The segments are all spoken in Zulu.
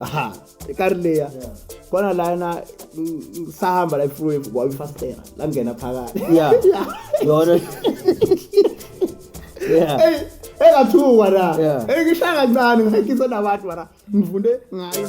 aha ekari leya khona lana ngisahamba la ifruwave kwabe ifastera langena phakathi ya yona engathuka na engishaya kancane ngihayikise nabantu mara ngifunde ngayo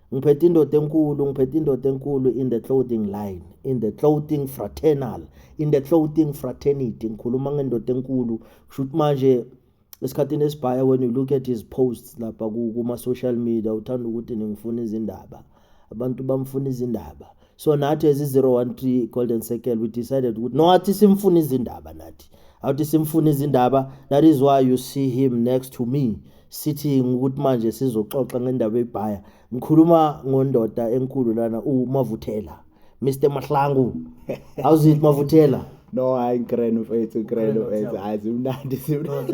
ngiphethe indoda enkulu ngiphethe indoda enkulu in the clothing line in the clothing fraternal in the clothing fraternity ngikhuluma ngendoda enkulu kusho ukuthi manje esikhathini esibhaya when you look at his posts lapha kuma-social media uthanda ukuthi ningifuna izindaba abantu bamfuna izindaba so nathi as i-013 golden circle we decided ukuthi no athi simfuna izindaba nathi awuthi simfuna izindaba that is why you see him next to me sithi ukuthi manje sizoxoxa ngendaba yebhaya ngikhuluma ngondoda enkulu lana umavuthela mr mahlangu how's it mavuthela no hayi ngikreno mfethu ngikreno mfethu hayi zimnandi zimnandi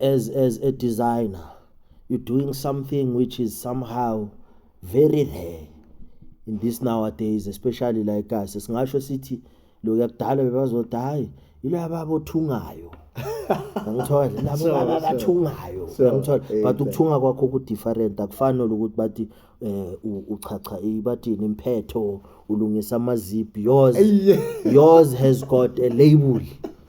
as as a designer you're doing something which is somehow very rare in this nowadays especially like us singasho sithi lo yakudala bebazothi hayi yilaba baba othungayo ngithola labo baba bathungayo ngithola eh, but ukuthunga kwakho ku different akufani nokuthi bathi eh uchacha ibathini imphetho ulungisa amazip yours yours has got a label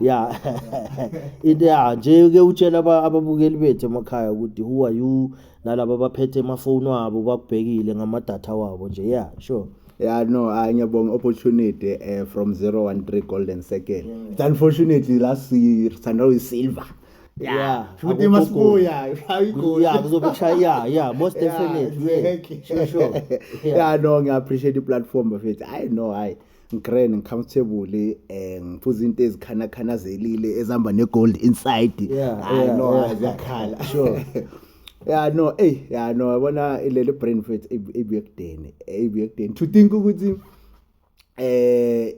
ya ya nje ke utshela ababukeli bethu emakhaya ukuthi who are you nalabo abaphethe emafoni wabo bakubhekile ngamadatha wabo nje ya sure Yeah, no, uh, ngiyabonga opportunity uh, from 013 Golden Circle. Yeah. It's unfortunately last year sithanda uyisilver. Yeah. yeah. Futhi masibuya, ayigoli. Yeah, kuzobe kushaya yeah, yeah, most definitely. Yeah, yeah. Sure, sure. yeah. yeah, no, ngiya appreciate i platform bafethu. I know, hayi. ngigrand ngicomfortable um ngiphuza into ezikhanakhanazelile ezihamba ne-gold inside hayi no ziyakhala sure ya no eyi ya no yabona ileli brain fat ibuye kudeni ibuye kudeni to think ukuthi eh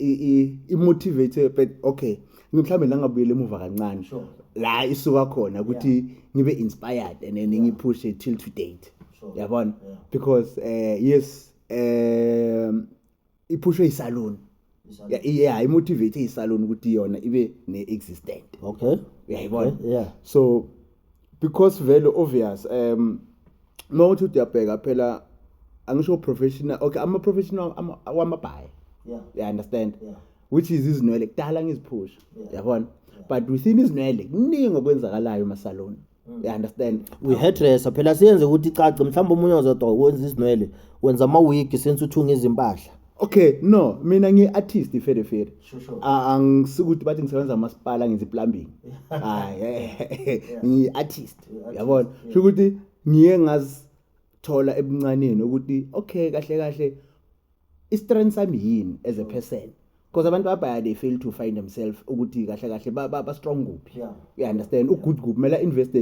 i-motivate but okay mhlawumbe la ngabuyela emuva kancane la isuka khona ukuthi ngibe inspired and then ngiphushe till to date yabona because eh yes um iphushwe isalon ya yeah, imotivate isalon ukuthi yona ibe ne existent okay uyayibona yeah, okay, yeah. so because vele obvious um uma uthi uyabheka phela angisho professional okay ama professional wamabhayi yeah you understand yeah which is izinwele kudala ngiziphusha yabona but within izinwele kuningi okwenzakalayo emasaloni Mm. you understand we hairdresser phela siyenze ukuthi icace mhlawumbe omunye ozodwa wenza izinwele wenza amawigi sense uthunga izimpahla okay no mina ngi-artist iferefere angisikuthi bathi ngisebenza amasipala ngenza iplumbing ngiyi-artist yabona sho ukuthi ngiye ngazithola ebuncaneni ukuthi okay kahle kahle istrength sami yini as a person because abantu abaya they fail to find themselves ukuthi kahle kahle ba, ba, ba strong kuphi Yeah. you understand ugood kuphi kumele invest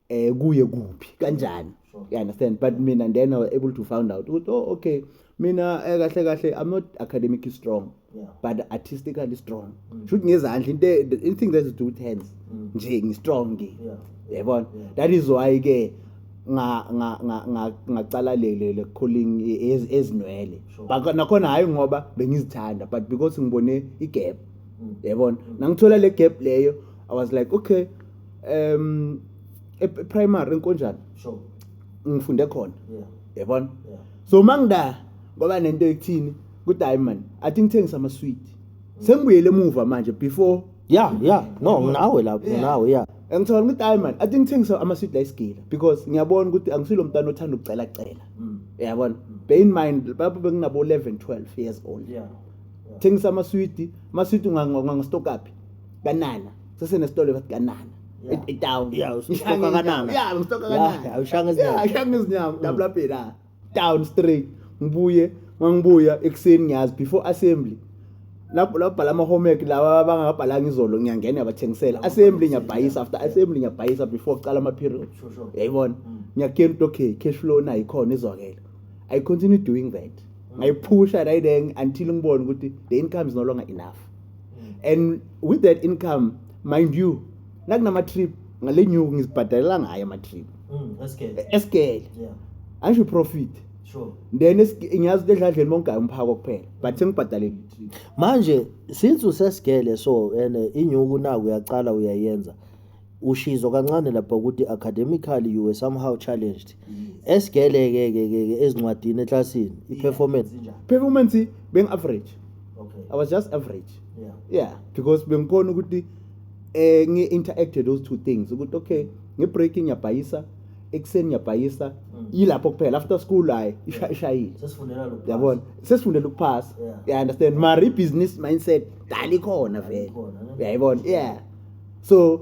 eh kuye kuphi kanjani Sure. you understand but mina and then I was able to find out ukuthi oh okay mina eh, kahle kahle i'm not academically strong Yeah. but artistically strong Mm. shoot ngezandla into e- the- anything that is do with hands Mm. nje ngistrong ngi Yeah. yabona Yeah. that is why ke ngacala lele calling ezinwele but nakhona hayi ngoba bengizithanda but because ngibone igap mm. yabona mm. nangithola le gap leyo i was like okay um e, e primary enkonjani sure ngifunde khona yabona so mangida ngoba nento ekuthini kudiamond i think thengisa ama sweet mm. sengibuyele emuva manje before ya ya no Yabona? nginawe lapho Yeah. nginawe ya ngicabanga ukuthi hayi mani ati ngithengisa ama-sweet la isigila because ngiyabona ukuthi angisilo mntwana othanda ukucelacela Mm. yabona bear in mind lapho benginabo-11 12 years old Yeah. thengisa amaswidi amaswidi ungangistokaphi kanana sesenesitolo bathi kanana Yeah. e- etown Yeah, usustoka Ngihlanga izinyawo. kanana. Yeah, ngistoka Yeah, kanana. awushanga izinyawo. Mm. Yeah, awushanga izinyawo dabulabhela down straight ngibuye mangibuya ekuseni ngiyazi before assembly lapho labhala ama homework lawa abangabhalanga izolo ngiyangena yabathengisela assembly ngiyabhayisa after assembly ngiyabhayisa before kuqala ama period yayibona mm. ngiyakena ukuthi okay cash flow na ikhona izwakela i continue doing that mm. ngayiphusha right then until ngibone ukuthi the income is no longer enough mm. and with that income mind you nakunama trip ngale nyuku ngizibhadalela ngayo ama trip Mm, esikele. esikele Yeah. angisho iprofit Sure. then esike- ngiyazi ukuthi edladleni bongayo umphako kuphela but sengibhadalele itrip manje since usesigele so and eh, inyuku naku uyaqala uyayenza ushizo kancane lapha ukuthi academically you were somehow challenged esigele ke ke ke ke ezincwadini eclassini iperformance Zinjani? performance bengi average Okay. i was just average Yeah. yeah because bengikhona ukuthi eh ngi interact those two things ukuthi okay nge break ngiyabhayisa ekuseni ngiyabhayisa mm. yilapho kuphela after school hayi ishayile yabona sesifundela ukuphasa i understand mari business mindset dali khona vele uyayibona yeah so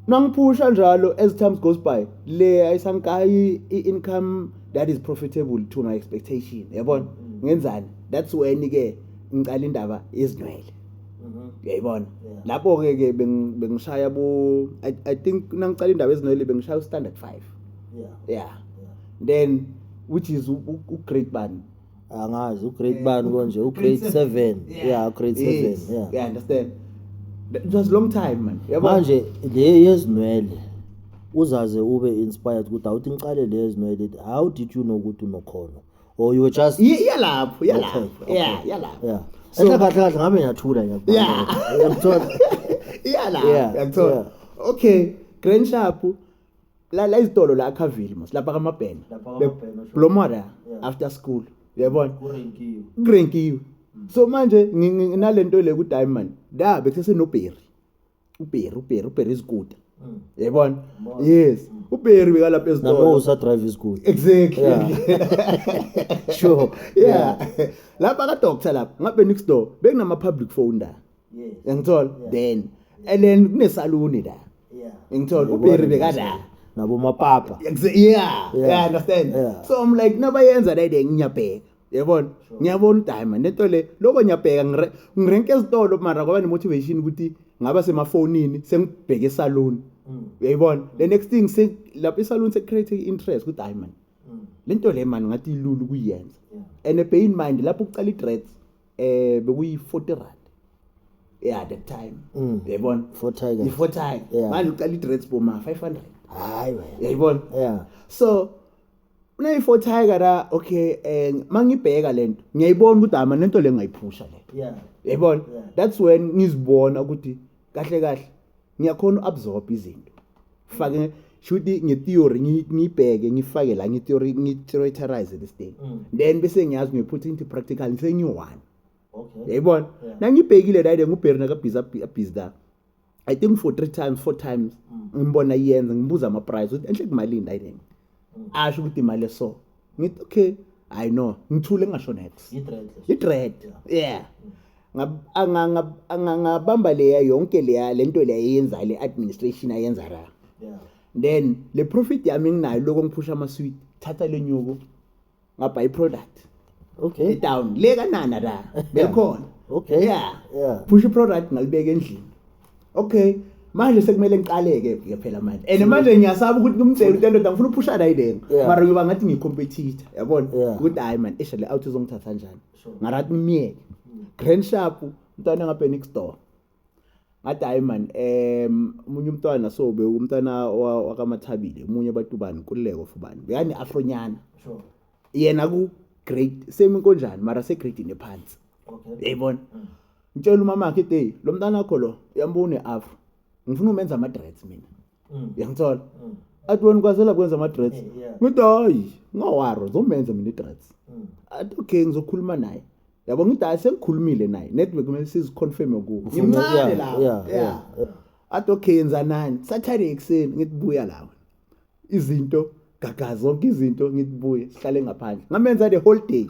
nangiphusha njalo as time goes by le ayisankayi i-income that is profitable to my expectation yabona mm. ngenzani that's when ke ngicala indaba yezinwele Mhm. uyayibona lapho-ke ke beng- bengishaya bo I, i think nangiqala indaba ezinwele bengishaya ustandard five Yeah. yeah then which is u- u- ugrade bani angazi ugrade Eh, bani u- konje grade ugrade seven. seven Yeah. ya ugrade seven Yes. ya yeah understand That- it was long time man yabo manje le yezinwele uzaze ube inspired ukuthi awuthi ngiqale le yezinwele how did you know ukuthi unokhono or you were just Ye- iyalapho iyalapho Okay, okay. yeah iyalapho yeah So- enhle kahle kahle ngabe ngiyathula ngiyakuba- Yeah. ngiyakuthola iyala Yeah, yakuthola yeah. okay grand shop la la izitolo la akhavile mos lapha kamabhena Lapha kaMabhena, sure. blomora Yeah. Mm. after school uyabona kurenkiwe kurenkiwe so manje ngi- ngi- nginalento le ku diamond da bekusese no berry uBerry uBerry uBerry izikuta mm. yayibona yes mm. uBerry bekalapha ezitolo nabo usa drive izikuta exactly yeah. sure yeah, yeah. lapha ka doctor lapha ngabe next door bekunama public phone la yes yangithola yeah. then yeah. and then kunesaluni la yeah ngithola uBerry bekala nabo mapapa yeah yeah, yeah. understand yeah. so i'm like nabayenza la de ngiyabheka yabona ngiyabona udayima nento le loko ngiyabheka ngirenke ezitolo mara kwaba ne-motivation ukuthi ngaba semafonini sengibheke esaluni mm. uyayibona mm. the next thing lapho isaluni se-create i-interest kudayimani mm. le nto le mani ngathi ilula ukuyenza and a pain mind lapho kucala i-dreads um eh, bekuyi-forty rand yeah that time uyayibona for tiger for tiger manje uqala i-dreads boma 500 hayi uyayibona yeah so Uneyi-four tiger la okay um ma ngibheka le nto ngiyayibona ukuthi hama nento le ngayiphusha le Yeah. yayibona Yeah. that's when ngizibona ukuthi kahle kahle ngiyakhona u-absorb izinto fake shuthi nge-theory ngi- ngiyibheke ngifake la nge-theory ngi-theoriterize this thing Mm. then bese ngiyazi ngiyophutha into practical ngisengiyi-one Okay. yayibona Yeah. nangibhekile ride ngubheri nakabhizi abhizi la i think for three times four times ngimbona iyenza ngibuza ama-price ukuthi enhle kumalini ayinini asho ukuthi imali eso ngithi okay i know ngithule ngingasho nex i-dread yeah angangabamba leya yonke leya le nto leya eyenza le administration ayenza ra then le profit yami enginayo lokho ngiphusha amaswit thatha le nyuko ngabha i product okay e down le kanana la belikhona okay yeah yeah push i product ngalibeka endlini okay manje sekumele ngiqaleke ke phela manje and manje ngiyasaba ukuthi kumcela into endoda ngifuna uphusha la ideni mara ngiba ngathi ngicompetitor yabona ukuthi hayi man isha le out izongithatha kanjani ngathi ngimyeke grand sharp mntwana ngabe next door ngathi hayi mani um omunye umntwana so bewumntwana wakamathabile omunye batubani nkululeko fubani bekani afronyana sure. yena ku-grade same inkonjani mara segradini ephansi yayibona okay. mm. ngitshela umamakhe iteyi lo mntana akho lo uyambona une-afro ngifuna umenza ama-dreads mina Mm. Uyangithola? Mm. Athi wena kwazela kwenza ama dreads. Ngithi hayi, ngawaro zomenza mina idreads. Mm. Athi okay ngizokhuluma naye. Yabo ngithi hayi sengikhulumile naye. Network kumele siziconfirm ku. Ngimncane la. Yeah. Athi okay yenza nani? Saturday ekseni ngithi buya lawe. Izinto gagaza zonke izinto ngithi buye sihlale ngaphandle. Ngamenza the whole day.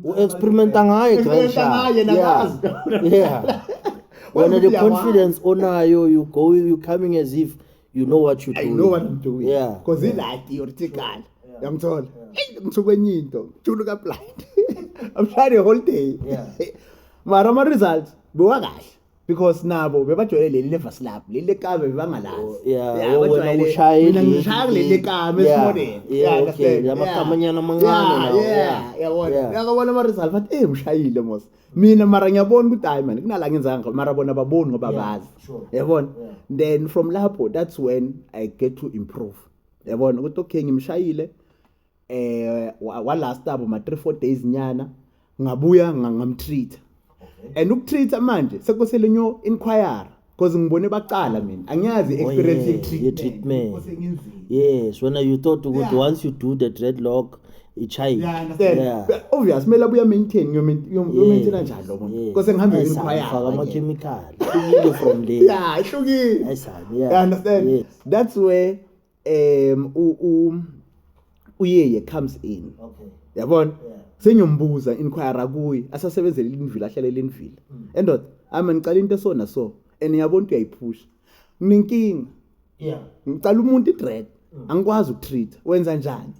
u-experimenta ngaye experimenta ngaye nakazi yeah wena the confidence onayo you go you coming as if you know what you do i know what i'm doing yeah because yeah. ilaki yortikala yamthola ngithu kwenye into julu ka blind i'm trying the whole day yeah mara ama results bewakahle because nabo bebajwayele leli levasi labo leli lekame bebangalazi Oh, yeah, Yeah, oh, wena bajwayele- ushaya mina eli- ngishaya kuleli lekame Yeah, esimoneni yeah, Yeah, okay, understand? la makamanyana amancane Yeah, lawo, yeah, yeah, yabona yeah. yakabona ama-result bathi eyi ushayile mos mina mara ngiyabona ukuthi hayi mani kunala ngenzanga ngakho, mara bona baboni ngoba Yeah, bazi sure. yabona Yeah. then from lapho that's when i get to improve yabona ukuthi okay ngimshayile eh walast abo ma 3 4 days nyana ngabuya ngamtreat and ukutreat manje sekosele nyo inquire because ngibone bacala mina angiyazi oh, experience ye treatment yes when you thought ukuthi once you do the dreadlock ichayi yeah obvious kumele abuya maintain yo maintain kanjani lo muntu kose ngihambe inquire faka ama chemical from there yeah ihlukile i understand that's where um u- u- uyeye comes in Okay. yabona Yeah. sengiyombuza inquire kuye asasebenzele ilindvila ahlale elindvila Mm. endoda ama ngicala into esona so and yabona ukuthi uyayiphusha nginenkinga Yeah. ngicala umuntu idread Mm. angikwazi ukutreat wenza njani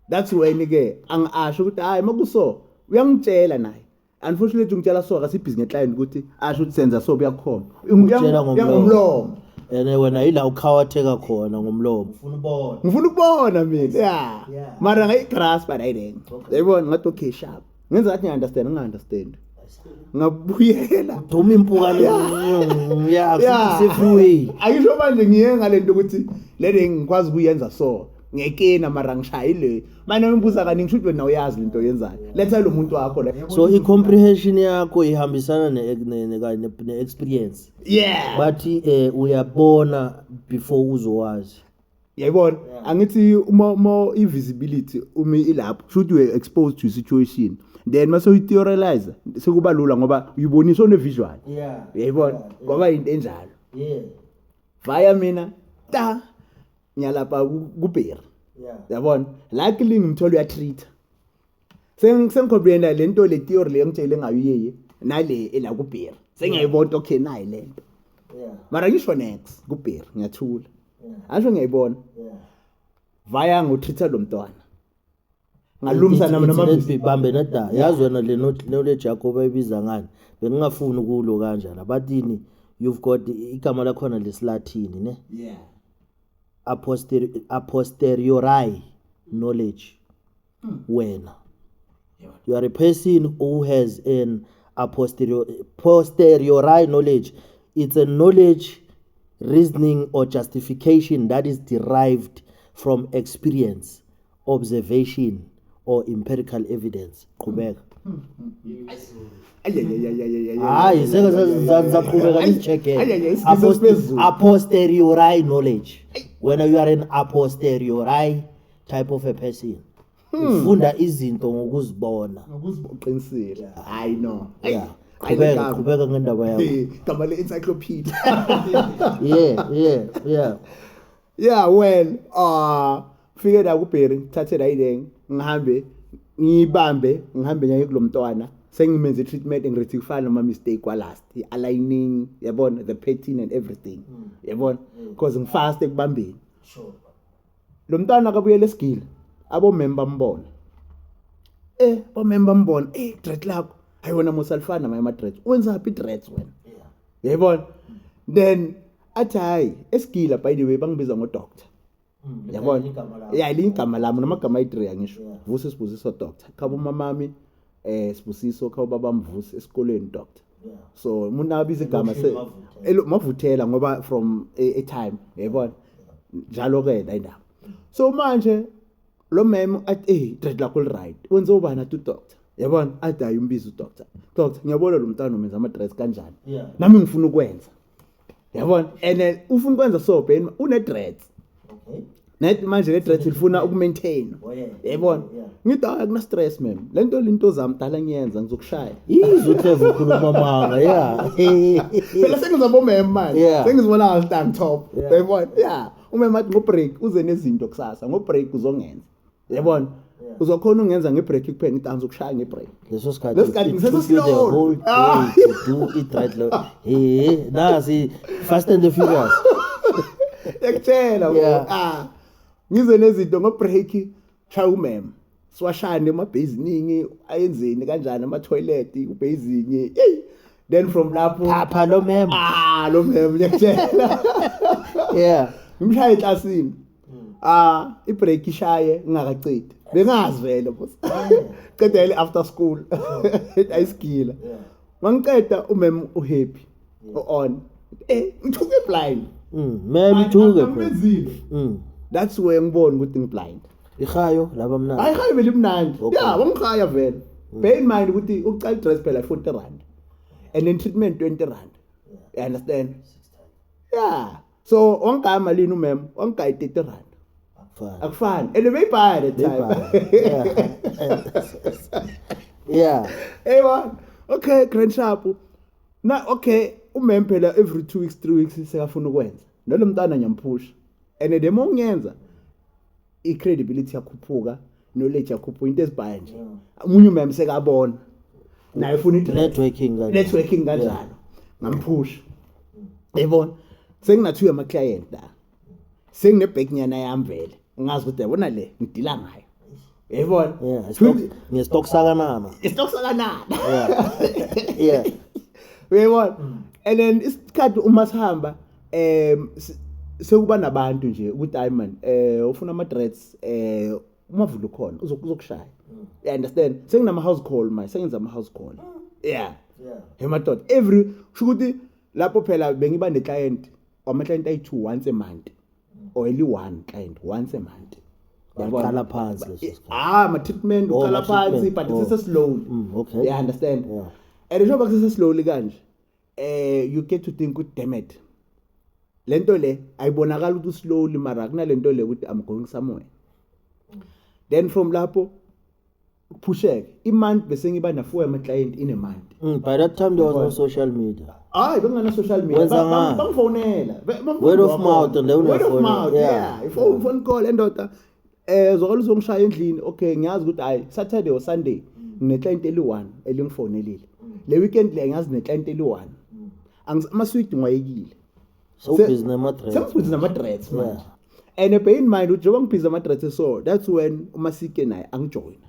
that's when ke angasho ukuthi hayi makuso uyangitshela naye unfortunately ngitshela so akasibhizi ngeclient ukuthi asho ukuthi senza so kuyakhona Utshela ngomlomo. yangomlomo and eh, wena yila ukhawatheka khona ngomlomo ufuna ubona ngifuna ukubona mina ya Yeah. mara ngayigrasp ayidenge Okay. yayibona ngathi okay sharp ngenza ngathi ngiya-understand nginga-understand ngabuyela duma impukane ya Yeah. sifuwile ayisho manje ngiye ngale nto ukuthi le ngikwazi ukuyenza so ngekena mara ngishaya ile manje ngibuza kaningi shuthi wena uyazi into yenzayo letha lo muntu wakho la so i comprehension yakho ihambisana ne ne ne, ne experience yeah but eh uyabona before uzowazi yayibona yeah. angithi uma uma i visibility umi ilapho shuthi we exposed to situation then mase uyitheorize sekuba lula ngoba uyibonisa one visual yeah yayibona yeah, yeah. ngoba into enjalo yeah via mina ta ngiyalapha kubheri yabona luckily ngimthola uyatreat sengikhompuyena le nto le theory le ngitshele ngayo iyeye nale ela kubheri sengiyayibona okay nayi le nto mara ngisho next kubheri ngiyathula asho ngiyayibona vaya ngotreat lo mntwana ngalumsa nami namabhibi bambe nada yazi wena le knowledge yakho bayibiza ngani bengingafuni ukulo kanjana batini you've got igama lakhona lesilathini ne yeah aposteri aposteriori knowledge hmm. wena you are a person who has an aposteriori posteriori knowledge it's a knowledge reasoning or justification that is derived from experience observation or empirical evidence qhubeka hayi seke saqhubeka nizijegele aposteriori knowledge wena you are an aposteriori type of a person hmm. ufunda izinto ngokuzibona uqinisile hayi no yeah qhubeka qhubeka ngendaba yakho gama le encyclopedia yeah yeah yeah yeah well ah fike la kubheri ngithathe la ileng ngihambe ngiyibambe ngihambe nyaye kulomntwana sengimenze treatment ngirethi kufana noma mistake kwa last i aligning yabona the pattern and everything hmm. yabona hmm. because ngifast ekubambeni sure lo mntwana akabuyela esigile abomem bambona eh bomem bambona eh dread lakho ayona musalifana maye ama dread wenza happy dreads wena yayibona then athi hayi esigila by the way bangibiza ngodoctor Mm, yabona ligama lakho. ya ligama lami namagama ayi-three angisho Yeah. vuso sibusiso doctor khaba umamami um sibusiso khaba ubaba mvusi esikoleni doctor Yeah. so umuntu abiza igama se- Elokishini Mavuthela. elo- mavuthela ngoba from a, a time yayibona njalo-ke la indaba so manje lo mem athi eyi dread lakho li-right wenze ubani athi udoctor yabona athi hayi umbiza udoctor doctor ngiyabona lo mntana umenza ama-dress kanjani Yeah. nami ngifuna ukwenza yabona and then ufuna ukwenza so ben une dreads okay net manje le dreads ilifuna uku maintain Oh, yeah. yabona Yeah. ngithi hayi akuna stress man lento linto zami dala ngiyenza ngizokushaya izwe uhlezi ukhuluma amanga ya phela sengiza bomem manje Yeah. sengizibona stand top Yeah. yabona yeah umem athi ngo break uze nezinto kusasa ngo break uzongenza yabona uzokhona ungenza ngebreak kuphela ngithi angizokushaya ngebreak leso sikhathi Leso sikhathi it ngiseso took you the slow. whole day Ah. to do it right lo he nasi fast and the furious ekutshela bo Yeah. ah ngize nezinto ngobreak shaya umem siwashane emabheziningi ayenzeni kanjani ama-toilet ubhezingi eyi then from lapho phapha lo mem ah lo mem liyakutshela yeah ngimshaye eklasini hmm. ah ibreak ishaye ngingakacedi bengazi vele boss ceda ile after school ayisigila mangiceda umem uhappy on eh ngithuke blind mm mem ithuke mm that's where ngibona ukuthi ngiblind ihayo laba mnandi hayi hayo vele imnandi yeah wamkhaya vele hmm. bear in mind ukuthi uqala dress phela 40 rand and then treatment 20 rand you understand yeah so wangigaya malini umem wangigaya i-thirty rand akufani and beyibhaya that time yeah eywa okay grand sharp na okay umem phela every two weeks three weeks sekafuna ukwenza nalo mntana ngiyamphusha and the more ngiyenza i-credibility yakhuphuka knowledge yakhuphuka into ezibhaya nje umunye umemse kabona naye ufuna networking kanjalo networking kanjalo ngamphusha yabona senginathiwe ama client la sengine back nyana yami vele ngazi ukuthi yabona le ngidila ngayo yabona ngestock sakanana istock sakanana yeah yeah uyayibona and then isikhathi uma sihamba eh sekuba nabantu nje ukuthi hayi man eh ufuna ama dreads eh umavula ukhona uzokushaya mm. you understand senginama house call my sengenza ama house call mm. yeah yeah hey madoda every shukuthi lapho phela bengiba ne client ama client ayi two once a month mm. or only one client once a month yaqala phansi leso sikhathi ah ma treatment oh, uqala phansi but oh. sise slowly okay yeah understand yeah and njengoba kusese slowly kanje eh you get to think ukuthi damn it le nto le ayibonakala ukuthi slowly mara kunale nto le ukuthi i'm going somewhere then from lapho phusheke imonth bese ngiba na four ama client in a month mm, by that time there was no social media hayi bengana social media bangifonela word of mouth and word of mouth yeah, yeah. yeah. phone call endoda Eh zwakala uzongishaya endlini. Okay ngiyazi ukuthi hayi Saturday or Sunday ngine client eli1 elingifonelile. Le weekend le ngiyazi ne client eli1. Angis ama sweet ngwayekile. So Se- busy nama dress. Sengibhizi nama dreads manje. Yeah. And eh, bear in mind ukuthi njengoba ngibhizi ama dreads so that's when uMasike naye angijoyina.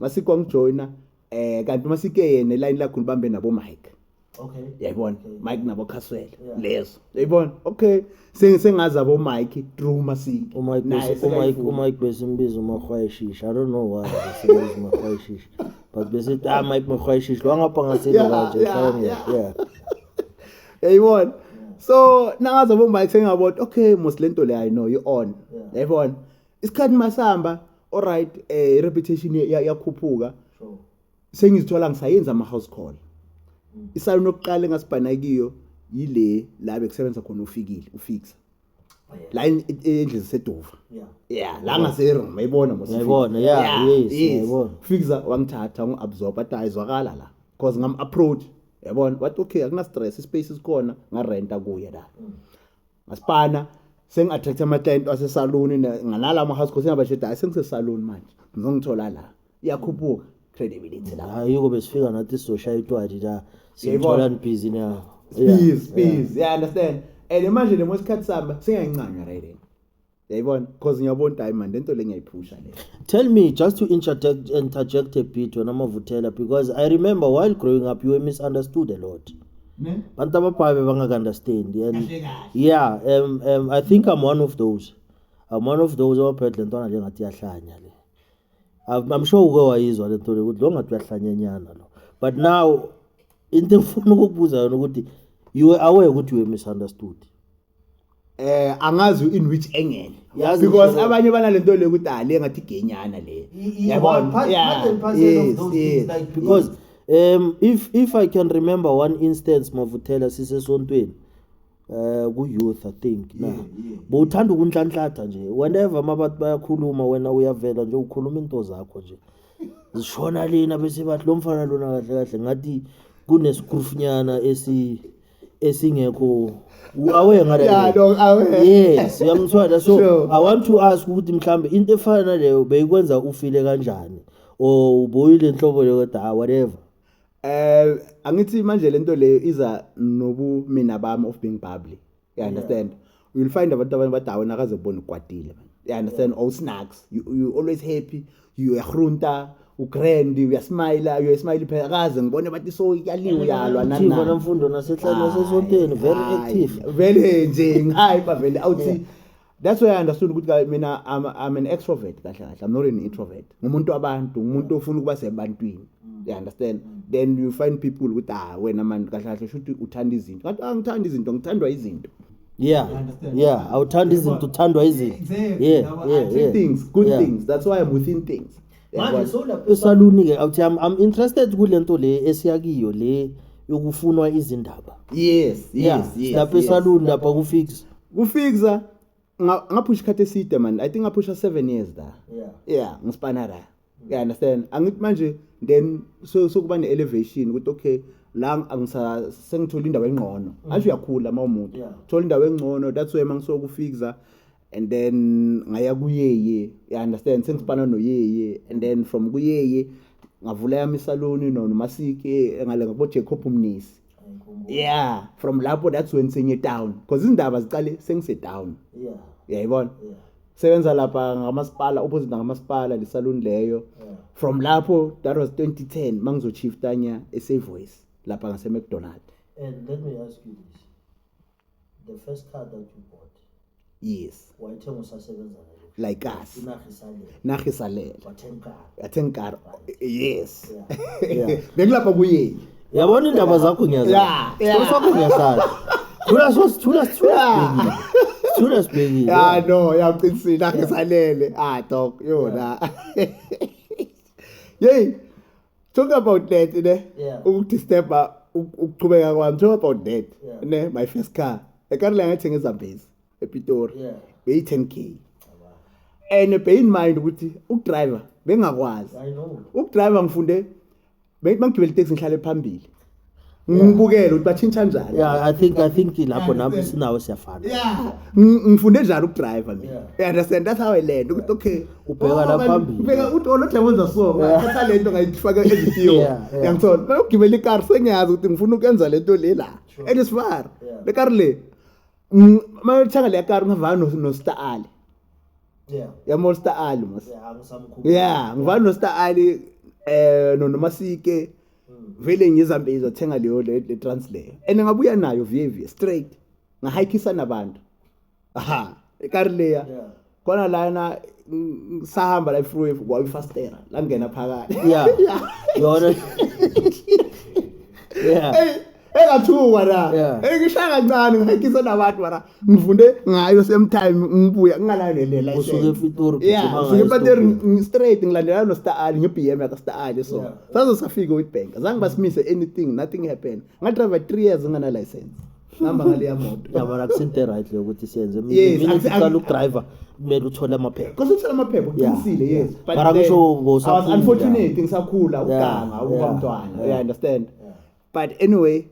Masike wangijoyina eh kanti uma sike yena line lakho libambe nabo Mike okay yayibona Mike nabo Khaswele lezo yayibona okay sengazi abo Mike through masiki uma uma uma ikwesimbiza uma khwayishisha i don't know why sengazi uma khwayishisha but bese ah Mike makhwayishisha lo ngapha ngasini kanje mhlawumbe yeah yayibona so nangazi abo Mike sengabona okay mos lento le i know you on yayibona isikhathi masihamba alright eh reputation yakhuphuka sengizithola ngisayenza ama house call mm. isalon okuqala engasibhana kiyo yile la bekusebenza khona ufikile ufixa oh, la endlini sedova yeah la ngase room ayibona mos ayibona yeah yes ayibona fixa wangithatha ngu absorb athi ayizwakala la because ngam approach yabona wathi okay akuna stress ispace isikhona ngarenta kuye la mm. masipana sengathatha ama-client wasesaluni ngalala ama-house course ingabasheda hayi sengisesaluni manje ngizongithola la iyakhuphuka credibility la hayi yiko besifika nathi sizoshaya itwadi la siyithola nibhizi na please please yeah understand and manje le mwesikhathi sami singayincanywa right yayibona because ngiyabona ukuthi hayi mani lento le ngiyayiphusha le tell me just to interject, interject a bit wena mavuthela because i remember while growing up you were misunderstood a lot ne bantu ababhayi bebangakunderstand and kahle kahle yeah um, um, i think i'm one of those i'm one of those abaphethe le ntwana njengathi iyahlanya le I'm, i'm sure uke wayizwa le nto le ukuthi lo ngathi uyahlanyanyana lo but now into engifuna ukukubuza yona ukuthi you were aware ukuthi you were misunderstood eh angazi in which angle Yazi because ngisho- abanye banalento le ukuthi ah le ngathi genyana le I- i- Yabona? one part- Yeah, part and parcel of yes, those yes, things, like, because um if if i can remember one instance mavuthela sisesontweni eh ku youth i think na bowuthanda ukunhlanhlatha nje whenever mabathi bayakhuluma wena uyavela nje ukhuluma into zakho nje zishona lena bese bathi lo mfana lona kahle kahle ngathi kunescrufnyana esi esingekho aware ngale yeah no aware yes uyamthwala so sure. i want to ask ukuthi mhlambe into efana naleyo beyikwenza ufile kanjani or uboyile inhlobo leyo kodwa ah, whatever eh angithi manje lento leyo iza nobu mina bami of being bubbly you understand yeah. you'll find abantu abanye bathi awena akaze kubona ukwatile man you understand all snacks you, you always happy you yahrunta ugrand uyasmile uyasmile phela akaze ngibone bathi so yaliwe uyalwa nani thina namfundo nasehlalo nasesonteni very active vele nje ngihayi bavele awuthi that's why i understood ukuthi mina I'm, i'm an extrovert kahle kahle i'm not an introvert ngumuntu wabantu ngumuntu ofuna ukuba sebantwini you understand then you find people ukuthi ah wena manje kahle kahle shuthi uthanda izinto ngathi angithanda izinto ngithandwa izinto yeah Understand? yeah awuthanda izinto uthandwa izinto Exactly. yeah Now, yeah I- yeah things good Yeah. things that's why i'm within things manje Yabona? sowulapha esaluni ke awuthi I'm, i'm interested kule nto le esiyakiyo le yokufunwa izindaba yes Yeah, yes yes lapha yes. esaluni lapha kufix kufixa nga- ngaphusha ikhathi eside man i think ngaphusha seven years la yeah yeah ngisipana la yeah understand angithi manje then so sokuba ne elevation ukuthi okay la angisa sengithola indawo engcono mm. asho uyakhula uma umuntu thola indawo engcono that's why mangisokufixa and then ngaya kuyeye you understand sengipana mm. noyeye and then from kuyeye ngavula yami isaloni no nomasike ngale ngabo Jacob Mnisi yeah from lapho that's when senye down because izindaba ziqale sengise down yeah uyayibona yeah sebenza lapha ngamasipala opposite ngamasipala lesaluni leyo from lapho that was 2010 mangizochifta nya eSavoice lapha ngase McDonald and let me ask you this the first car that you bought yes wayithenga usasebenza like us inarha isalele inarha isalele wathenga yathengar yes bengilapha kuye yabona indaba zakho ngiyazisakho ngiyasazi thula so sithula sithula sithula sibhekile ya no yaqinisile angisalele ah dog yona yey talk about that ne ukudisturba ukuchubeka kwami talk about that ne my first car ekarle ngayithenga ezambezi epitori yeah. beyi-10 k and bear in mind ukuthi ukudriver bengakwazi ukudriver ngifunde bangigibela iteksi ngihlale phambili ngibukele ukuthi bathintsha njani yeah i think i think lapho nami sinawo siyafana yeah ngifunde njani ukudriver mina yeah. understand that's how i learned ukuthi okay ubheka oh, la phambili ubheka uthi olothe oh, wenza so thatha lento ngayifaka ezithiyo yangithola bayogibela ikar sengiyazi ukuthi ngifuna ukwenza lento le la and it's far le kar le Mm, uma uthenga le kari ngivana no- no-star ali yeah yama u-star ali mos yeah angisamkhulu ya ngivana no-star ali um nonomasike Mm. vele ngizambe izothenga leyo le le trans leyo and ngabuya nayo vye vye straight ngahayikisa nabantu aha ikari leya yeah khona lana sahamba la ifruwe kwayifastera langena phakathi ya yona ya engathuka la engishaya kancane ngayikisa nabantu mara ngifunde ngayo same time ngibuya ngingalanelela usuke epitori yeah usuke epitori straight ngilandela no star ali nge BM ya star ali so sazo safika with bank zange basimise anything nothing happened nga drive 3 years ngana license ngihamba ngale yamoto yabona kusento eright leyo ukuthi siyenze Yes, mina akusi- ngicela ukudriver kumele uthole amaphepha Because uthola amaphepha uqinisile Yeah, yes. yeah. But Mara then, kusho I was ngosafunda. unfortunate ngisakhula Yeah, ukuganga ukuba yeah, mntwana. yeah. You understand? But anyway,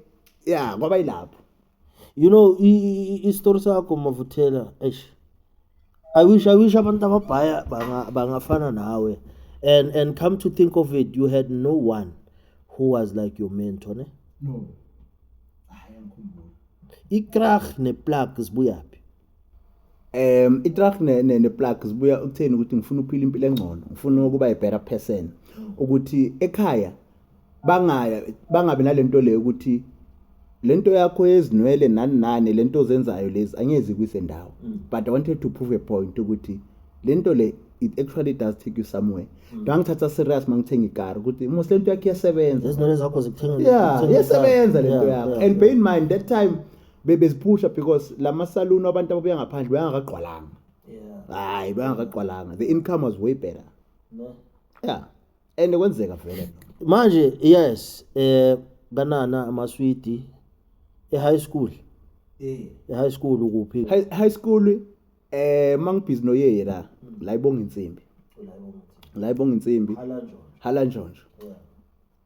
yeah, kwaba yilapho. you know i- i- i- isitori sakho mavuthela eish I wish I wish abantu ababhaya banga bangafana nawe. And and come to think of it, you had no one who was like your mentor, ne? No. Hayi angikhumbuli. Ikrach neplug zibuyaphi? Um itrack ne ne, ne plug zibuya ukutheni ukuthi ngifuna ukuphila impilo engcono, ngifuna ukuba a better person ukuthi ekhaya bangaya bangabe nalento leyo ukuthi lento yakho yezinwele nani nani lento ozenzayo lezi angezi kwisendawo mm. but i wanted to prove a point ukuthi lento le it actually does take you somewhere mm. ngangithatha serious mangithenga ikar ukuthi mos lento yakho iyasebenza izinwele zakho zikuthenga yeah iyasebenza lento yakho and bear in mind that time bebeziphusha because lama salon abantu ababuya ngaphandle bayangakagqwalanga hayi bayangakagqwalanga the income was way better no yeah and kwenzeka vele manje yes eh kanana amaswidi e-high school eh e-high school ukuphi high, high school eh mangibhizi noyeye la la ibonga insimbi la ibonga insimbi hala njonjo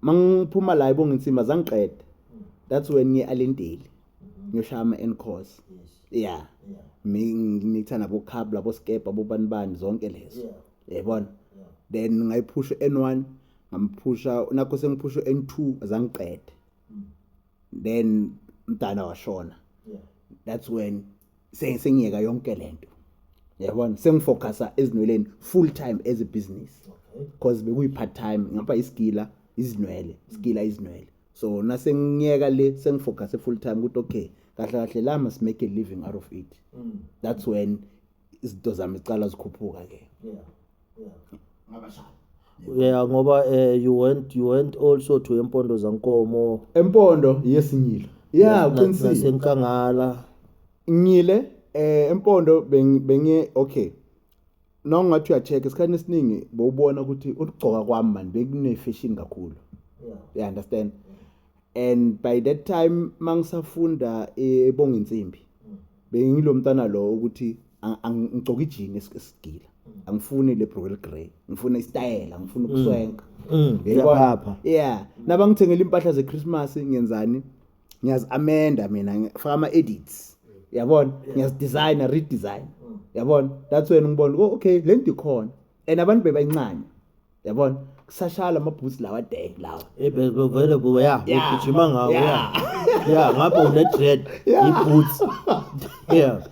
mangiphuma la ibonga insimbi azangiqede that's when ngiye alenteli ngiyoshaya ama-n course yeah ngikuthanda bokhab labo skepa bobanibani zonke lezo yayibona then ngayiphusha n1 ngamphusha nakho sengiphusha n2 azangiqede mm. then mdala washona that's when sengiyeka yonke lento yabona sengifocusa ezinweleni full time as a business because bekuyi part time ngapha isigila izinwele isigila izinwele so nasengiyeka le sengifocus full time ukuthi okay kahle kahle la must make a living out of it mm. that's when izinto zami ziqala zikhuphuka ke yeah yeah ngabashaya yeah ngoba uh, you went you went also to empondo zankomo empondo yesinyilo yeah uqinisile nasenkangala ngile eh empondo bengiye okay noma ngathi uyacheck isikhathi esiningi bowubona ukuthi ukugcoka kwami manje bekune fashion kakhulu yeah you understand yeah. and by that time mangisafunda ebonga insimbi bengilo mntana lo ukuthi ngigcoka ijini esigila angifuni le brokel grey ngifuna istayela ngifuna mm. ukuswenka mm. yaphapha yeah nabangithengela impahla ze Christmas ngenzani ngiyazi amenda mina ngifaka ama edits yabona ngiyazi design redesign mm. yabona that's when ngibona oh, okay lento ikhona and abantu bebayincane yabona kusashaya lama boots lawa dang lawa Eh, be- be- vele kuwe ya Yeah. ugijima ngawo ya Yeah. ya ngabe une-dread i-boots ya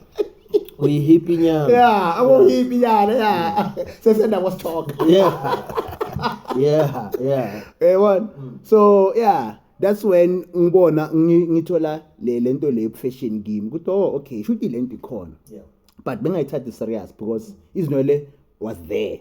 uyihipi nyama yeah akuhipi yana yeah sesenda kwasithoka yeah yeah yeah yabona so yeah that's when ngibona ngi- ngithola le lento le fashion kimi ukuthi oh okay shuthi lento ikhona but bengayithathi serious because izinwele was there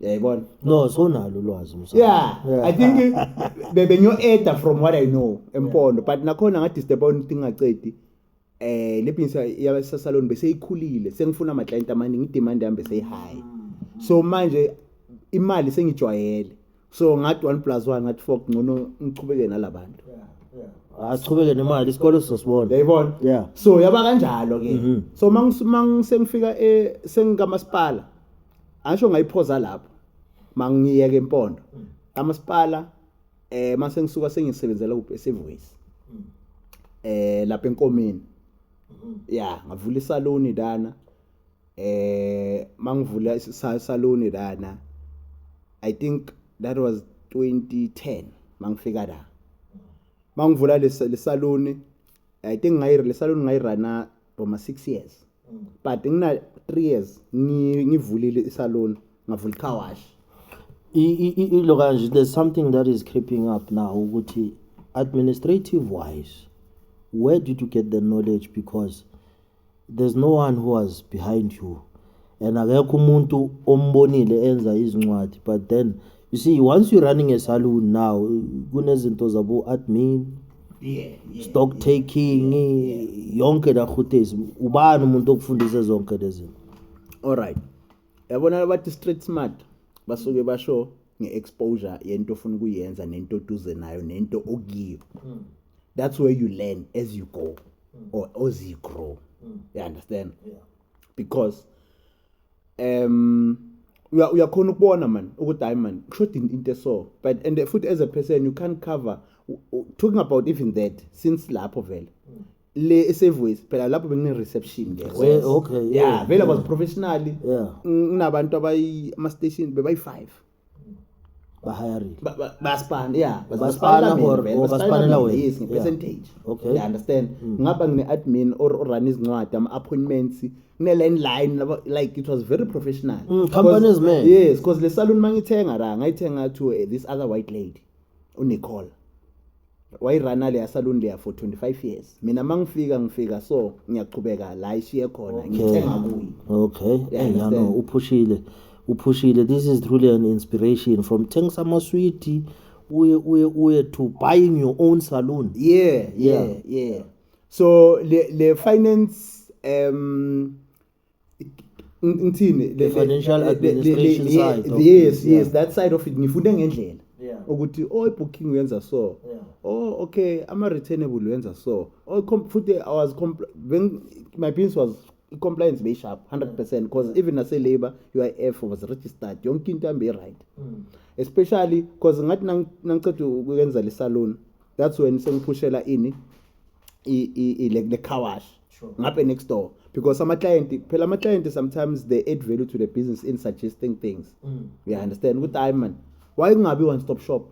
yayibona no so nalo ulwazi msana yeah, yeah i think bebe nyo eda from what i know empondo yeah. but nakhona nga disturb on thing acedi eh le pinsa ya sa salon bese ikhulile sengifuna ama client amaningi demand yami bese high mm. so manje imali sengijwayele so ngathi one plus one ngathi four ngcono ngichubeke nalabantu achubeke nemali isikole sizosibona yayibona yeah so yaba kanjalo ke mhm. so mangusengifika e sengikamasipala asho ngayiphoza lapho mangiyeke empondo mm. amasipala eh mase ngisuka sengisebenzela ku Sevoice mm. eh lapha enkomeni mm-hmm. ya ngavula isaloni dana eh mangivula isaluni lana i think that was 2010 mangifika la mangivula lesaluni i think ngayi lesaluni ngayirana for ma 6 years but ngina 3 years ngivulile isaluni ngavula car wash look kanje there's something that is creeping up now ukuthi administrative wise where did you get the knowledge because There's no one who was behind you and akekho umuntu ombonile enza izincwadi but then you see once you running a saloon now kunezinto zabo admin yeah, yeah, stock yeah, taking yeah, yeah. yonke la khutezi ubani umuntu okufundise zonke lezinto alright yabona labathi street smart basuke basho nge-exposure yento ofuna ukuyenza nento oduze nayo nento okuyiyo hmm. that's where you learn as you go mm. or ozigrow mm. you understand yeah. because um uya uyakhona ukubona man ukuthi hayi man kushoda into eso but and futhi as a person you can't cover talking about even that since lapho vele mm. le esevoice phela lapho bekune reception ke eh, okay yeah vele was professionally yeah kunabantu abayi ama station bebayi 5 bahirile Ba- ba- basipana ya Basipana or- or basipanela wena. yes Yeah. ngepercentage Okay. you understand Mm. ngapha ngine-admin or orun izincwadi ama-appointments kune-line line laba- like it was very professional Mm, company is made. yes because le salon mangithenga ra ngayithenga to eh, this other white lady unicole wayirana leya saluni leya for 25 years mina uma ngifika ngifika so ngiyaqhubeka la ishiye khona ngithenga kuyi okay yano uphushile uphushile this is truly an inspiration from thengisa amaswidi uye uye uye to buying your own saloon yeah yeah yeah, yeah. so le, le finance um ngithini the financial administration side yes yes yeah. that side of it ngifunde ngendlela yeah. ukuthi oh ibooking uyenza so yeah. oh okay ama returnable uyenza so oh futhi i was when my business was compliance be sharp 100% because mm. even as a labor UIF was registered yonke into ambe right mm. especially because ngathi nangiceda ukwenza le salon that's when sengiphushela ini i i le car wash ngabe next door because ama client phela ama client sometimes they add value to the business in suggesting things mm. you understand ukuthi hayi man why kungabi one stop shop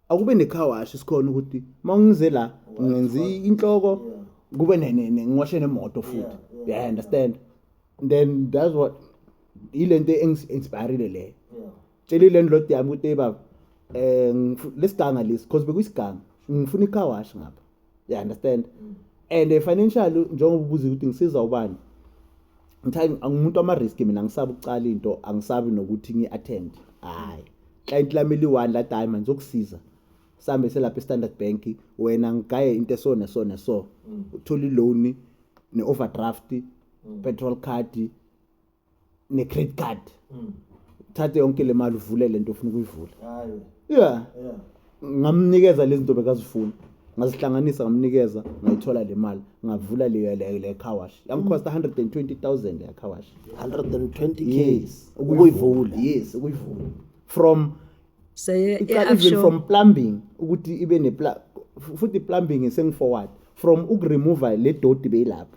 akube ne car wash isikhona ukuthi mawungize la ngenza inhloko kube ne ne ngiwashe nemoto futhi yeah, yeah, understand then that's what ilento engisinspired le tshelile ndlodi yami ukuthi baba eh lesiganga lesi because bekuyisiganga ngifuna icar wash ngapha you understand mm. and eh, financial njengoba ubuza ukuthi ngisiza ubani ngithanda angimuntu ama risk mina ngisabe ukucala into angisabi nokuthi ngi attend hayi client lami liwani la time manje ukusiza sambe selapha standard bank wena ngigaye into so ne so ne so mm. uthola loan ne overdraft mm. petrol card ne credit card mm. thathe yonke le mali uvule le nto ofuna ukuyivula yeah ngamnikeza lezi nto bekazifuna ngazihlanganisa ngamnikeza ngayithola le mali ngavula le car wash yangikhosta 120000 le car wash 120 yes ukuyivula yes ukuyivula from say even from plumbing ukuthi ibe ne futhi plumbing sengiforward from ukuremova le doti beyilapha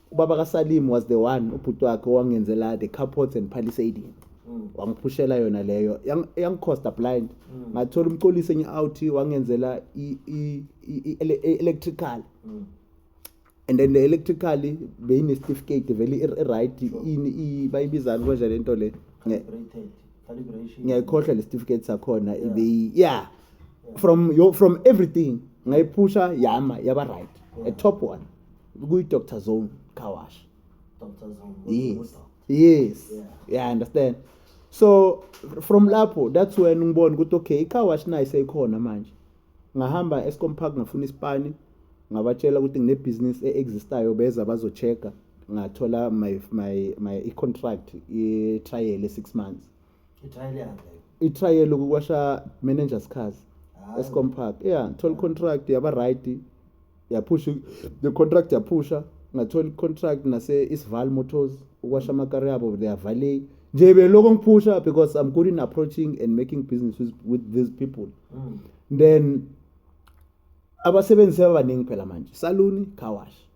ubaba kasalim was the one ubhuti wakhe owangenzela the carports and palisadian mm. wangiphushela yona leyo yangicosta blind mm. ngathola umcolisi enye out wangenzela i-electrical mm. and then the electrically beyinesitifikate vele i-right ini bayibizani konje le nto le ngiyayikhohlwa le sitifikate sakhona ibeyi yeah from, from everything ngayiphusha yama yaba right a top one kuyi-doctor zone car wash Dr. Zone. yes Udokotela. yes Yeah. yeah understand so from lapho that's when ngibona ukuthi okay i-car wash nayo seyikhona manje ngahamba escom park ngafuna isipani ngabatshela ukuthi nginebhizinisi e-existayo beza bazo-check-a ngathola my, my, my i-contract i-trial e-six months itrial yakhe itrial ukukwasha manager sikhazi escom park yeah thola contract yaba right yaphusha the contract yaphusha ngathola contract nase isval motors ukwasha amakari yabo they are valet nje beloko ngiphusha because i'm good in approaching and making business with, with these people mm. then abasebenzi sebabaningi phela manje saluni car wash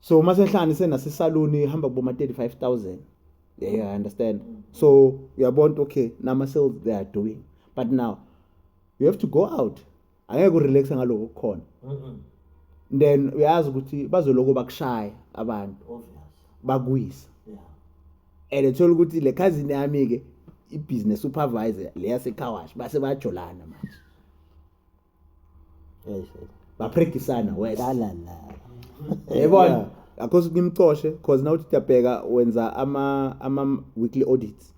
so uma sehlani senasisaluni ihamba kuboma 35000 yeah, yeah i understand so uyabona okay nama sales they are doing but now you have to go out angeke urelaxe ngaloko kukhona then uyazi ukuthi bazoloko bakushaya abantu bakuyisa and ethola ukuthi le cousin yami ke ibusiness supervisor leya secar wash base bajolana manje baprekisana welalala yebona akhosi ngimcoshe cause nawuthi uyabheka wenza ama ama weekly audits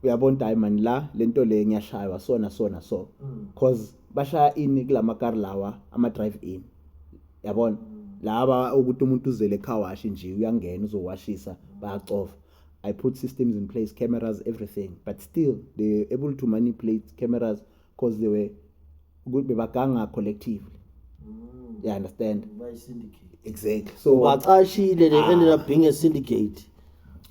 uyabona ukuthi hayi mani la le nto le ngiyashaywa sona sona so Mm. cause bashaya ini kula makari lawa ama-drive in yabona laba ukuthi umuntu uzele ekhawashi nje uyangena uzowashisa bayacofa i put systems in place cameras everything but still they able to manipulate cameras because they were ukuthi bebaganga collectively mm. you understand by syndicate exactly so bacashile they ah. ended up being a syndicate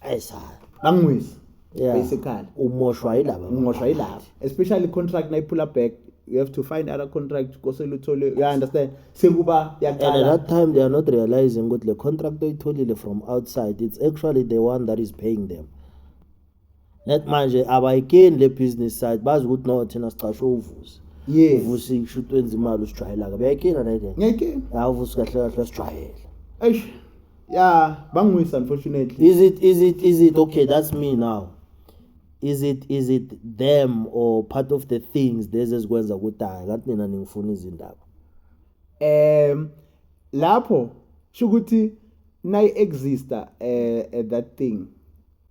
ayisa bangwisa yeah. basically umoshwa yilaba umoshwa yilaba especially contract nayiphula back you have to find other contract kosele uthole you understand sekuba yaqala and at that time they are not realizing ukuthi le contract oyitholile from outside it's actually the one that is paying them net manje abayikeni le business side bazi ukuthi no thina sicashwe uvusi yes uvusi kushuthi wenza imali usijwayelaka beyayikena nayike ngiyayikena ya uvusi kahle kahle sijwayela eish ya bangwisa unfortunately is it is it is it okay that's me now is it is it them or part of the things lezi ezikwenza ukuthi hayi kanti nina ningifuna izindaba um lapho shukuthi nayi exista eh, eh that thing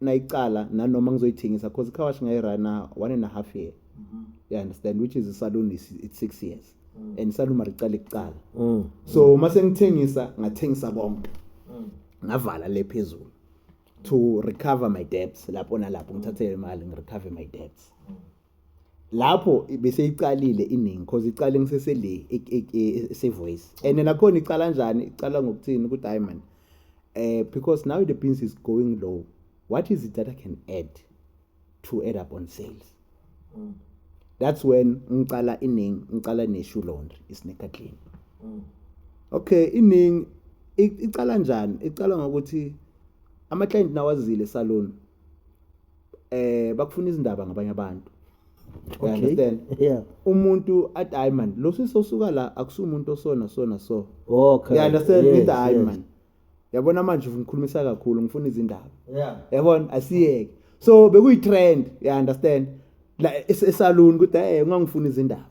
nayicala nanoma ngizoyithengisa because icar wash ngayirana one and a half year mm-hmm. you understand which is isalon is it's six years mm. and isalon maricala ikuqala mm. so uma sengithengisa ngathengisa konke mm. ngavala le phezulu to recover my debts lapho nalapho ngithathe imali ngirecover my debts mm. lapho beseyiqalile iningi cause iqale ngisese le esevoice and nakhona iqala kanjani iqala ngokuthini ukuthi hayi mani um because now the beans is going low what is it that i can add to add up on sales mm. that's when ngicala iningi ngicala neshoe laundry isneaker clean mm. okay iningi iqala njani iqala ngokuthi ama-client nawazile salon eh bakufuna izindaba ngabanye abantu okay. understand yeah umuntu at hayi man lo sisosuka la akusumuntu osona sona so okay you understand yes, with hayi yes. man yabona manje ngikhulumisa kakhulu ngifuna izindaba yeah yabona asiyeke so bekuyi trend you understand la esaluni ukuthi hey ungangifuna izindaba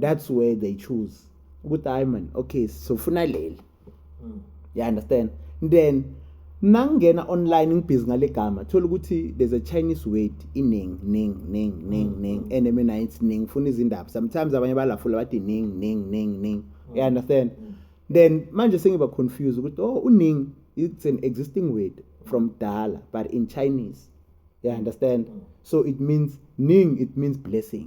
that's where they choose ukuthi hayi man okay sofuna leli mm. you understand then nangena online ngibhizi ngale gama thola ukuthi there's a chinese word ining ning ning ning mm. ning and mina it's ning funa izindaba sometimes abanye balafula bathi ning ning ning ning mm. you understand mm. then manje sengiba confused ukuthi oh uning it's an existing word from dala but in chinese you understand mm. so it means ning it means blessing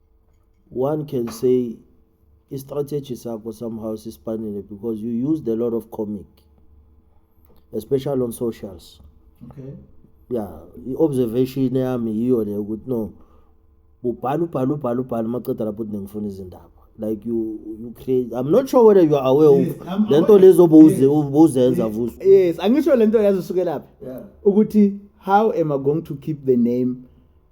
one can say i-strategy sakho somehow sisipanile because you used a lot of comic especially on socials okay yeah i-observation yami yiyo le ukuthi no ubhala ubhala ubhala ubhala maqeda lapho ukuthi nengifuna izindaba like you you create i'm not sure whether you are aware yes, of le nto lezo bowuzenza vuso yes angisho le nto yazi usukelaphi ukuthi how am i going to keep the name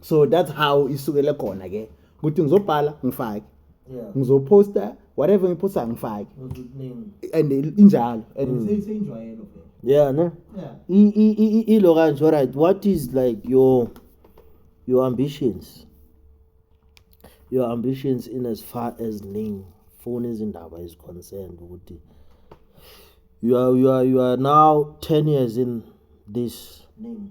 so that's how isukele khona ke ukuthi ngizobhala ngifake ngizoposta whatever ngiphosta ngifake and injalo and mm. seyinjwayelo yeah no yeah ilo kanje all right what is like your your ambitions your ambitions in as far as ning funa izindaba is concerned ukuthi you are you are you are now 10 years in this ning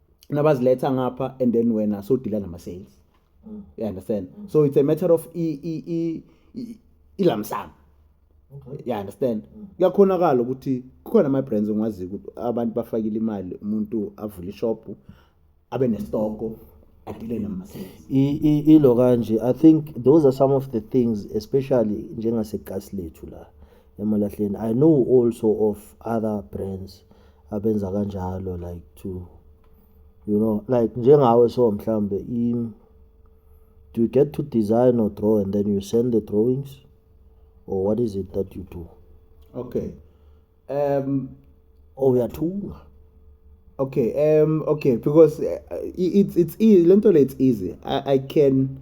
nabaziletha ngapha and then wena so dealer nama sales mm. you understand mm. so it's a matter of i i i ilamsana okay. you understand mm. kuyakhonakala ukuthi kukhona ama brands ngwazi ukuthi abantu bafakile imali umuntu avule ishop abe nestoko adile nama sales ilo kanje i think those are some of the things especially njengase gas lethu la emalahleni i know also of other brands abenza kanjalo like to you know like njengawe so mhlambe im do you get to design or draw and then you send the drawings or what is it that you do okay um oh uyathunga okay um okay because uh, it's it's e, lento le it's easy I, i can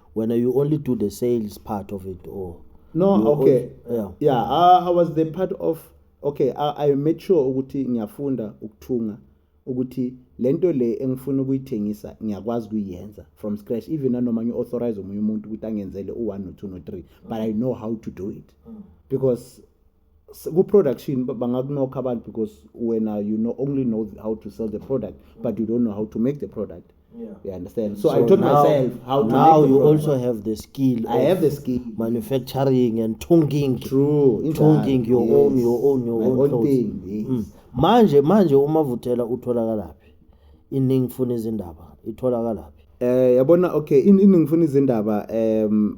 wena you only do the sales part of it or no you okay only, yeah, yeah I, I was the part of okay I, I made sure ukuthi ngiyafunda ukuthunga ukuthi lento le engifuna ukuyithengisa ngiyakwazi kuyenza from scratch even nanoma ngi authorize umunye umuntu ukuthi angenzele u1 no2 no3 but i know how to do it mm. because ku-production bangakunokha abantu because wena you know only know how to sell the product but you don't know how to make the product Yeah. you understand so, So i taught now- myself how to now make the you product. also have the skill i of have the skill manufacturing and tonguing true injalo, tonguing your yes. own your own your My own own clothes. thing, yes. Mm. manje manje umavuthela utholakalaphi iningi funa izindaba itholakalaphi Eh yabona okay in- iningi ngifuna izindaba um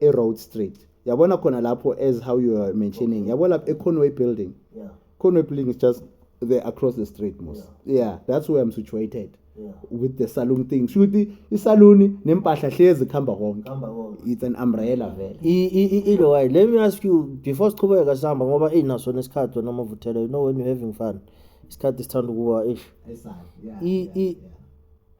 eRoad Street yabona khona lapho as how you are mentioning yabo lapho eConway building yeah Conway building is just there across the street most yeah, yeah that's where I'm situated yeah. with the saloon thing sho ukuthi isaluni nempahla hlezi khamba konke it's an umbrella vele ilo why let me ask you before siqhubeka sihamba ngoba inaso nesikhathi wena mavuthela you know when you having fun isikhathi sithanda ukuba ish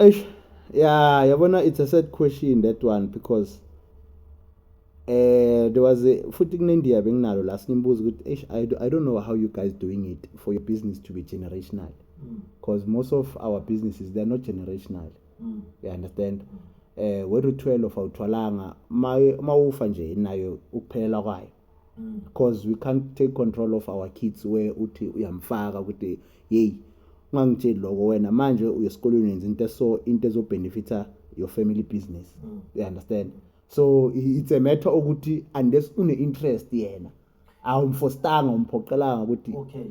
Eish ya yabona it's a sad question that one because eh there was a futhi kunendiya benginalo la simbuza ukuthi eish I, I don't know how you guys doing it for your business to be generational because mm. most of our businesses they're not generational mm. you understand eh wethu 12 awuthwalanga uma ufa nje nayo ukuphelela kwayo because we can't take control of our kids where uthi uyamfaka ukuthi yeyi ungangitsheli loko wena manje uyesikolweni wenza into eso into ezobenefita your family business mm. you understand so it's a matter okuthi unless une-interest yena awumfostanga umphoqelanga ukuthi okay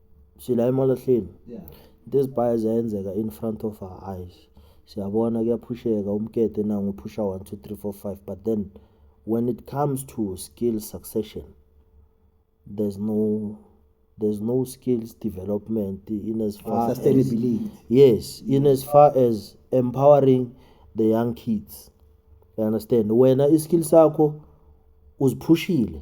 sila emalahleni yeah. into ezibhaya ziyayenzeka in front of our eyes siyabona kuyaphusheka umkete nangu uphusha 1 2 3 4 5 but then when it comes to skill succession there's no there's no skills development in as far sustainability as, yes in as far as empowering the young kids you understand wena iskill sakho uziphushile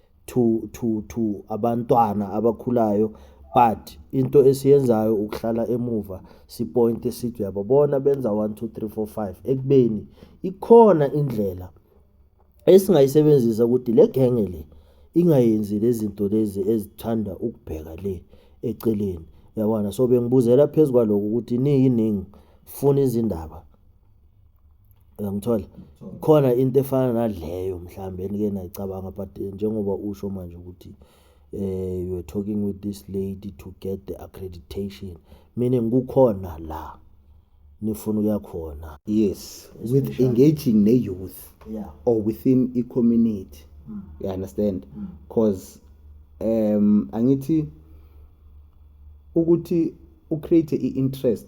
to to to abantwana abakhulayo but into esiyenzayo ukuhlala emuva sipointe sithi uyababona benza 1 2 3 4 5 ekubeni ikhona indlela esingayisebenzisa ukuthi le genge le ingayenzi lezinto lezi ezithanda ukubheka le eceleni yabona so bengibuzela phezulu kwaloko ukuthi niyiningi funa izindaba Uyangithola? Khona into efana naleyo mhlambe enike nayicabanga but eh, njengoba usho manje ukuthi eh you were talking with this lady to get the accreditation meaning kukhona la nifuna ukuya khona yes with engaging ne youth yeah. or within i community mm. you understand mm. cause um angithi ukuthi u create i interest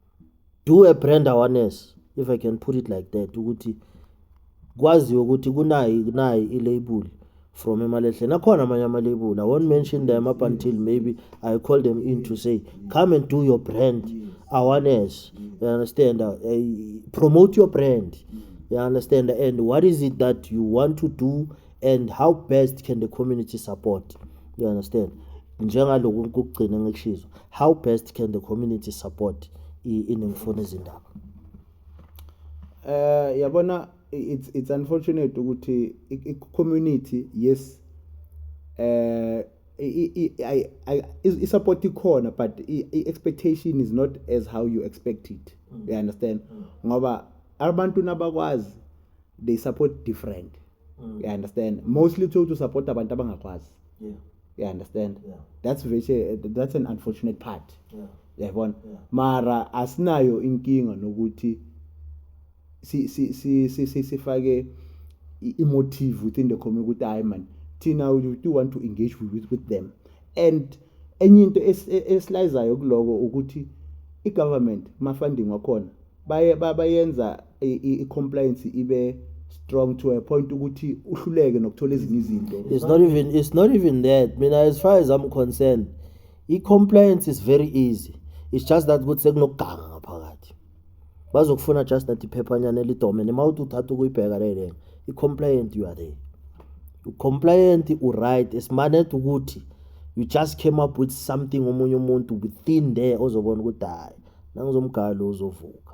do a brand awareness if i can put it like that ukuthi kwaziwe ukuthi kunayi nayi ilabel from emalehla nakhona amanye amalabel i won't mention them up until maybe i call them in to say come and do your brand awareness you understand uh, promote your brand you understand and what is it that you want to do and how best can the community support you understand njengaloku ukugcina ngikushizo how best can the community support inengifuna izindaba eh yabona it's it's unfortunate ukuthi i community yes eh i-support ikhona but i-expectation is not as how you expect it mm. you understand mm. ngoba abantu nabakwazi they support different mm. you understand mostly uthole to support abantu abangakwazi yeah. you understand yeah. that's very, that's an unfortunate part yeah. yayibona yeah. mara asinayo inkinga nokuthi si si si si si sifake imotive within the community ukuthi hayi man thina we do want to engage with, with them and enye into e-, esilayizayo kuloko ukuthi i-government ma-funding wakhona baye bayenza i-compliance ibe strong to a point ukuthi uhluleke nokuthola ezinye izinto it's not even it's not even that mina as far as i'm concerned i-compliance is very easy it's just that ukuthi sekunokuganga ngaphakathi bazokufuna just that iphephanyana elidomene uma uthi uthatha ukuyibheka lele i-compliant you are there u-compliant u-right esimanet ukuthi you just came up with something omunye umuntu within there ozobona ukuthi hayi nangizomgalo uzovuka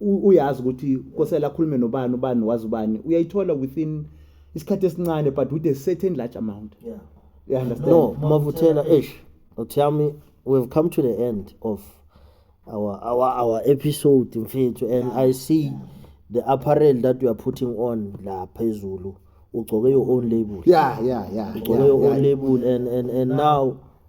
uyazi ukuthi kosela akhulume nobani ubani wazi ubani uyayithola within isikhathi esincane but with a certain large amount yeah. you understand no mavuthela eish tell me we've come to the end of our our our episode mfethu and yeah. i see yeah. the apparel that you are putting on la phezulu ugcoke your own label yeah yeah yeah ugcoke yeah, your yeah. own label and and and now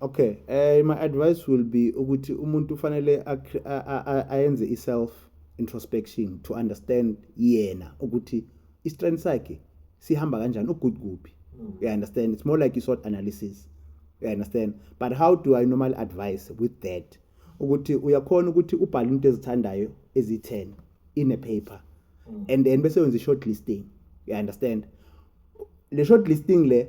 Okay, eh my advice will be ukuthi umuntu ufanele ayenze iself introspection to understand yena ukuthi istrength sakhe sihamba kanjani ugood kuphi. Mm. You understand? It's more like you sort analysis. You understand? But how do I normally advise with that? Ukuthi uyakhona ukuthi ubhale into ezithandayo ezi-10 in a paper. Mm. And then bese wenza i-short listing. You understand? Le short listing le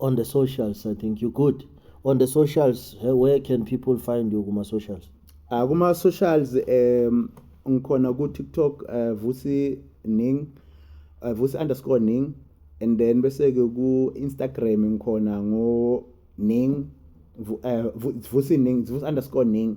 on the socials i think you good on the socials eh, where can people find you kuma socials Ah kuma socials um ngikhona ku TikTok uh, Vusi Ning uh, Vusi underscore Ning and then bese ke ku Instagram ngikhona ngo Ning Vu- eh, Vu- Vusi Ning Vusi underscore Ning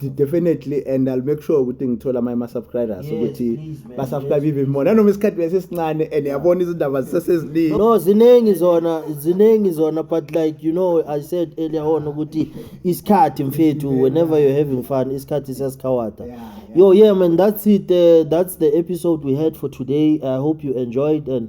definitely and i'll make sure ukuthi ngithola amanye ama-subscribers ukuthi basubscribe even more nanoma isikhathi besesincane and yabona izindaba ziseseziningi no ziningi zona ziningi zona but like you know i said earlier on ukuthi isikhathi mfethu whenever you're having fun isikhathi siyasikhawata yo yeah man that's it uh, that's the episode we had for today i hope you enjoyed and